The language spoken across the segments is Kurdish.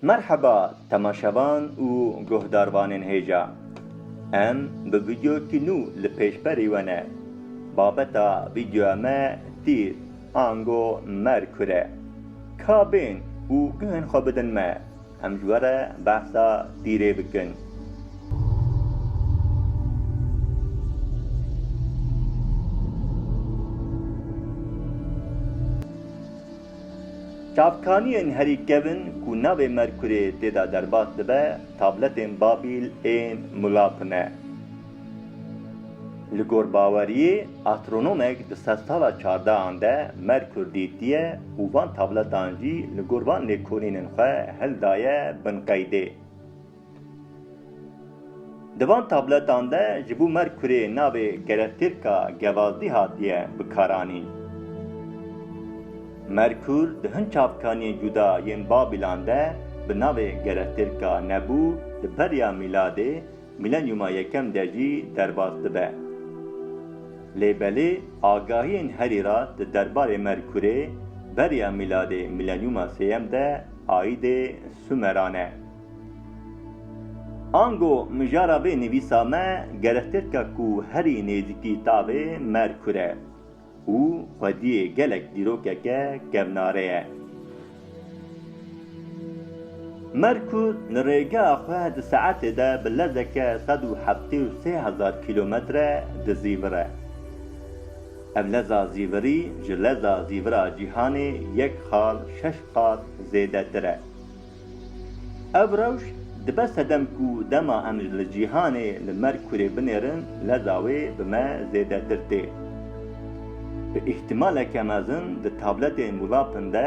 Merheba temaşevan û guhdarvanên hêja. Em bi vîdyokî nû li pêş berî we ne. Babeta vîdyoya me tîr ango Merkur e. Ka bên û guhên xwe bidin me, em ji we re behsa tîrê bikin. Çavkaniyên herî kevn ku navê Merkurê tê de derbas dibe tabletên Babîl ên Mulap ne. Li gor baweriyê astronomek di sedsala çardehan de Merkur dîtiye û van tabletan jî li gor van lêkolînên xwe hildaye bin qeydê. Di van tabletan de ji bo Merkurê navê kerestêrka Gevazdî hatiye bikaranîn. Merkur di hin çavkaniyên cuda yên Babîlan de bi navê kerestêrka Nebû di beriya mîladê, mîlenyûma yekem de jî derbas dibe. Lê belê agahiyên herî rast di derbarê Merkurê beriya mîladê mîlenyûma sêyem de aîdê Sumeran e. Ango mijara vê nivîsa me gerextir dike ku herî nêzîkî tavê Merkur e û xwediyê gelek dîrokeke kevnare ye. Merkur li rêgeha xwe di saetê de bi lezeke sed û heftê û sê hezar kîlometre dizîvir e. Ev leza zîvirî ji leza zîvira cîhanê yek xal şeş qat zêdetir e. Ev rewş dibe sedem ku dema em li cîhanê li mer kurê binêrin leza wê bi me zêdetir tê. Bi îhtîmaleke mezin di tabletên wlapin de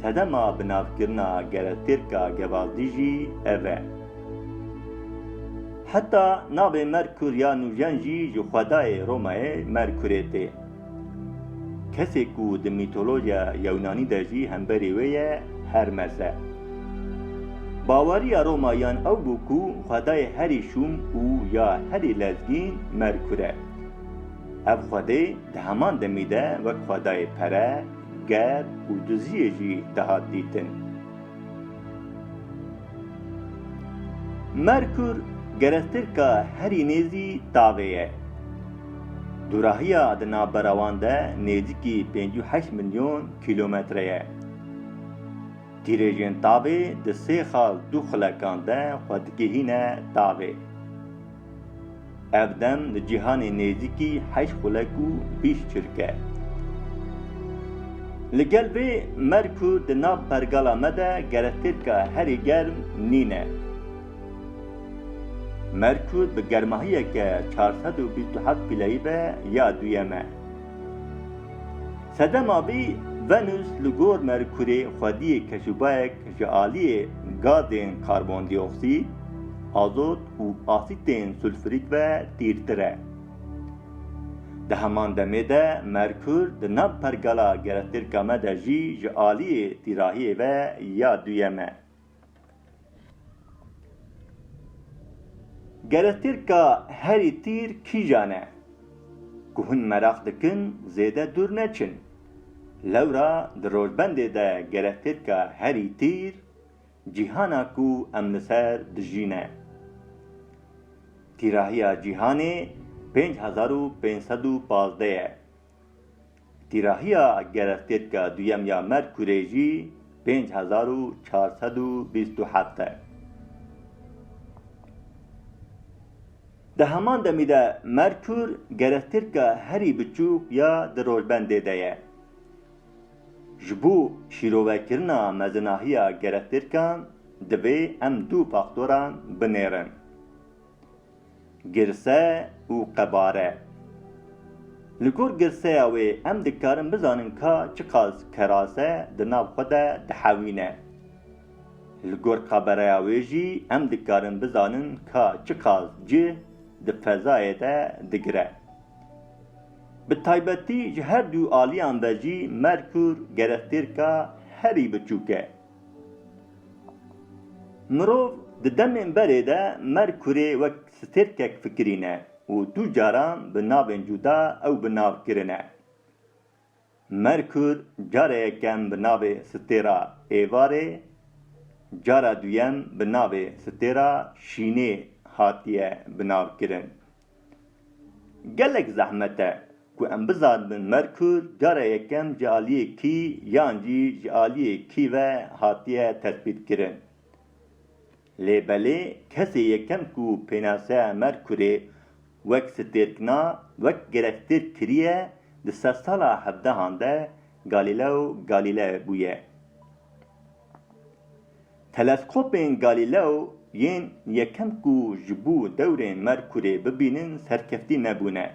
sedema binavkirina gerestêrka gevazdî jî ev e. Heta navê mer kur ya nûjen jî ji xwedayê Romayê mer kurê tê. Kesê ku di mîtolojiya Yewnanî de jî hemberî wê ye Hermes e. Baweriya Romayiyan ew bû ku xwedayê herî şûm û ya herî lezgîn Merkur e. Ev xwedê di heman demî de wek xwedayê pere, ger û duziyê jî dihat dîtin. Merkûr gerestêrka herî nêzî tavê ye. Dûrahiya di navbera wan de nêzîkî pênc û heşt milyon kîlometre ye. Tîrêjên tavê di sê xal dû xulekan de xwe digihîne tavê. Ev dem li cîhanê nêzîkî heşt xulek û bîst çirk e. Li gel vê mer ku di nav pergala me de gerestêrka herî germ nîn e. Mer ku bi germahiyeke çar sed û bîst û heft pîleyî be ya duyem e. Sedema vî Venus li gor Merkurê xwediyê keşûbayek ji aliyê gazên karbondîoksîd, azot û asîtên sulfurîk ve tîrtir e. Di heman demê de Merkur di nav pergala gerestêrka me de jî ji aliyê tîrahiyê ve ya duyem e. Gerestêrka herî tîr kîjan e? Ku hûn meraq dikin zêde dûr neçin. Lewra di rojbendê de gerestêrka herî tîr Cîhana ku em li ser dijî ne. Tîrahiya cîhanê pênc hezar û pênc sed û pazdeh ye. Tîrahiya gerestêtka duyem ya Merkurê jî pênc hezar û çar sed û bîst û heft e. Di heman demî de Merkur gerestêtka herî biçûk ya di rojbendê de ye. Ji bo şîrovekirina mezinahiya gerestêrkan divê em du faktoran binêrin, girse û qebare. Li gor girseya wê em dikarin bizanin ka çiqas kerase di nav xwe de dihewîne. Li gor qabereya wê jî em dikarin bizanin ka çiqas cih di fezayê de digire. Bi taybetî ji her du aliyan ve jî Merkûr gerektêrka herî biçûk e. Mirov di demên berê de Merkûrê wek stêrkek fikirîne û du caran bi navên cuda ew bi nav kirine. Merkur cara yekem bi navê Stêra Êvarê, cara duyem bi navê Stêra Şînê hatiye bi nav kirin. Gelek zehmet e ku em bizanibin Merkur cara yekem ji aliyê kî yan jî ji aliyê kî ve hatiye tesbît kirin. Lê belê kesê yekem ku pênaseya Merkurê wek stêrkna wek girevtêrk kiriye di sedsala hevdehan de Galileo Galilei bûye. Teleskopên Galileo yên yekem ku ji bo dewrên Merkurê bibînin serkeftî nebûne.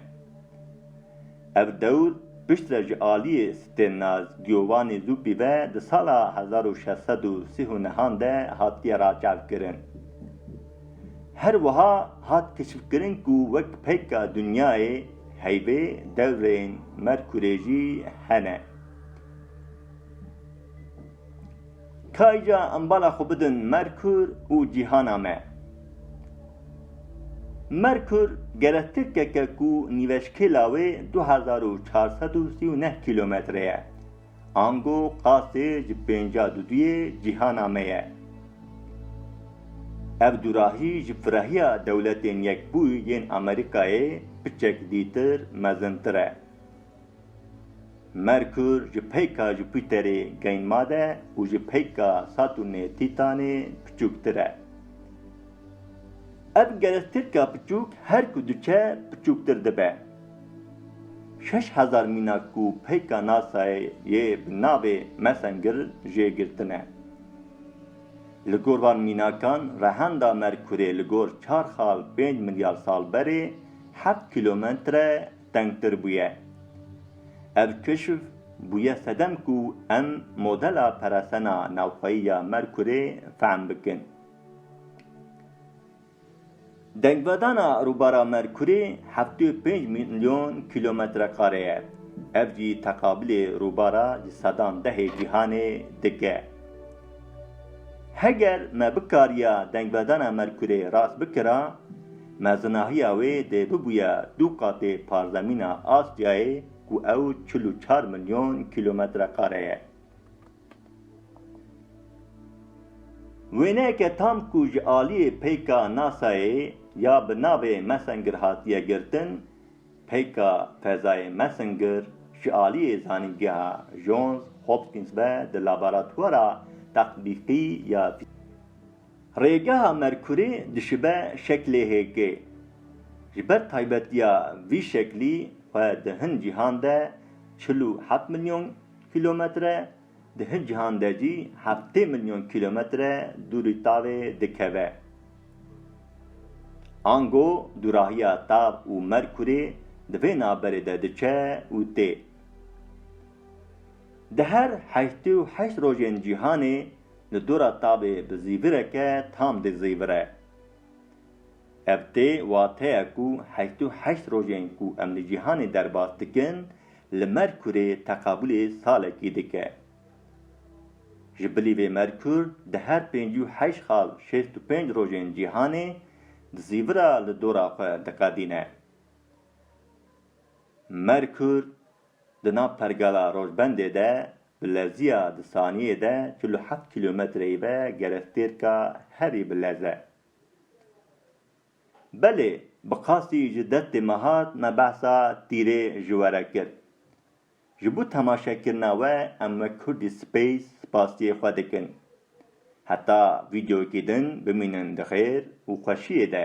Ev dewr piştre ji aliyê Stênaz Giovanni Zuppi ve di sala hezar û şeş sed û sî û nehan de hatiye raçavkirin. Her wiha hat keşifkirin ku wek peyka dinyayê heyvê dewrên Merkurê jî hene. Kayca em bala xwe bidin Merkur û cîhana me. Merkur gele tirkeke ku nîveşkêla wê du hezar û çar sed û sî û neh kîlometre ye. Ango qasê ji pênca duduyê cîhana me ye. Ev dûrahî ji firahiya Dewletên Yekbûyî yên Amerîkayê piçek dîtir mezintir e. Merkur ji peyka Jupîterê geyn made û ji peyka Satûrnê Tîtanê piçûktir e. Ev gelestirka piçûk her ku diçe piçûktir dibe. Şeş hezar mîna ku peyka NASA'yê yê bi navê Messenger jê girtine. Li gor van mînakan rehenda Merkurê li gor çar xal pênc milyar sal berê heft kîlometre tengtir bûye. Ev keşf bûye sedem ku em modela peresena navxweyî ya Merkurê fehm bikin. Dengvedana rûbara Merkurê heftê û pênc milyon kîlometrekare ye, ev jî teqabilê rûbara ji sedan dehê cîhanê dike. Heger me bikariya dengvedana Merkurê rast bikira, Mezinahiya wê dê bibûye du qatê parzemîna Asyayê ku ew çil û çar milyon kîlometrekare ye. Wêneyeke tam ku ji aliyê peyka NASA'yê ya bi navê Messenger hatiye girtin, peyka fezayê Messenger ji aliyê zanîngeha Johns Hopkins ve di laboratwara tetbîqî ya Rêgeha Merkurê dişibe şeklê hêkê. Ji ber taybetiya vî şeklî xwe di hin cîhan de çil û heft milyon kîlometre, di hin cîhan de jî heftê milyon kîlometre dûrî tavê dikeve. Ango dûrahiya tav û Merkurê di vê navberê de diçe û tê. Di her heştê û heşt rojên cîhanê Li dora tavê bi zîvireke tam dê zîvire. Ev tê wateya ku heşt û heşt rojên ku em li cîhanê derbas dikin li Merkurê teqabûlê salekî dike. Ji bilî vê Merkur di her pêncî û heşt xal şêst û pênc rojên cîhanê di zîvira li dora xwe diqedîne. Merkur Di nav pergala Rojbendê de bi leziya di saniyê de çil û heft kîlometreyî ve gerestêrka herî bi lez e. Belê bi qasî ji destê me hat me behsa tîrê ji we re kir. Ji bo temaşekirina we em wek Kurdî Space spasiyê xwe dikin. Heta vîdeoyekî din bimînin di xêr û xweşiyê de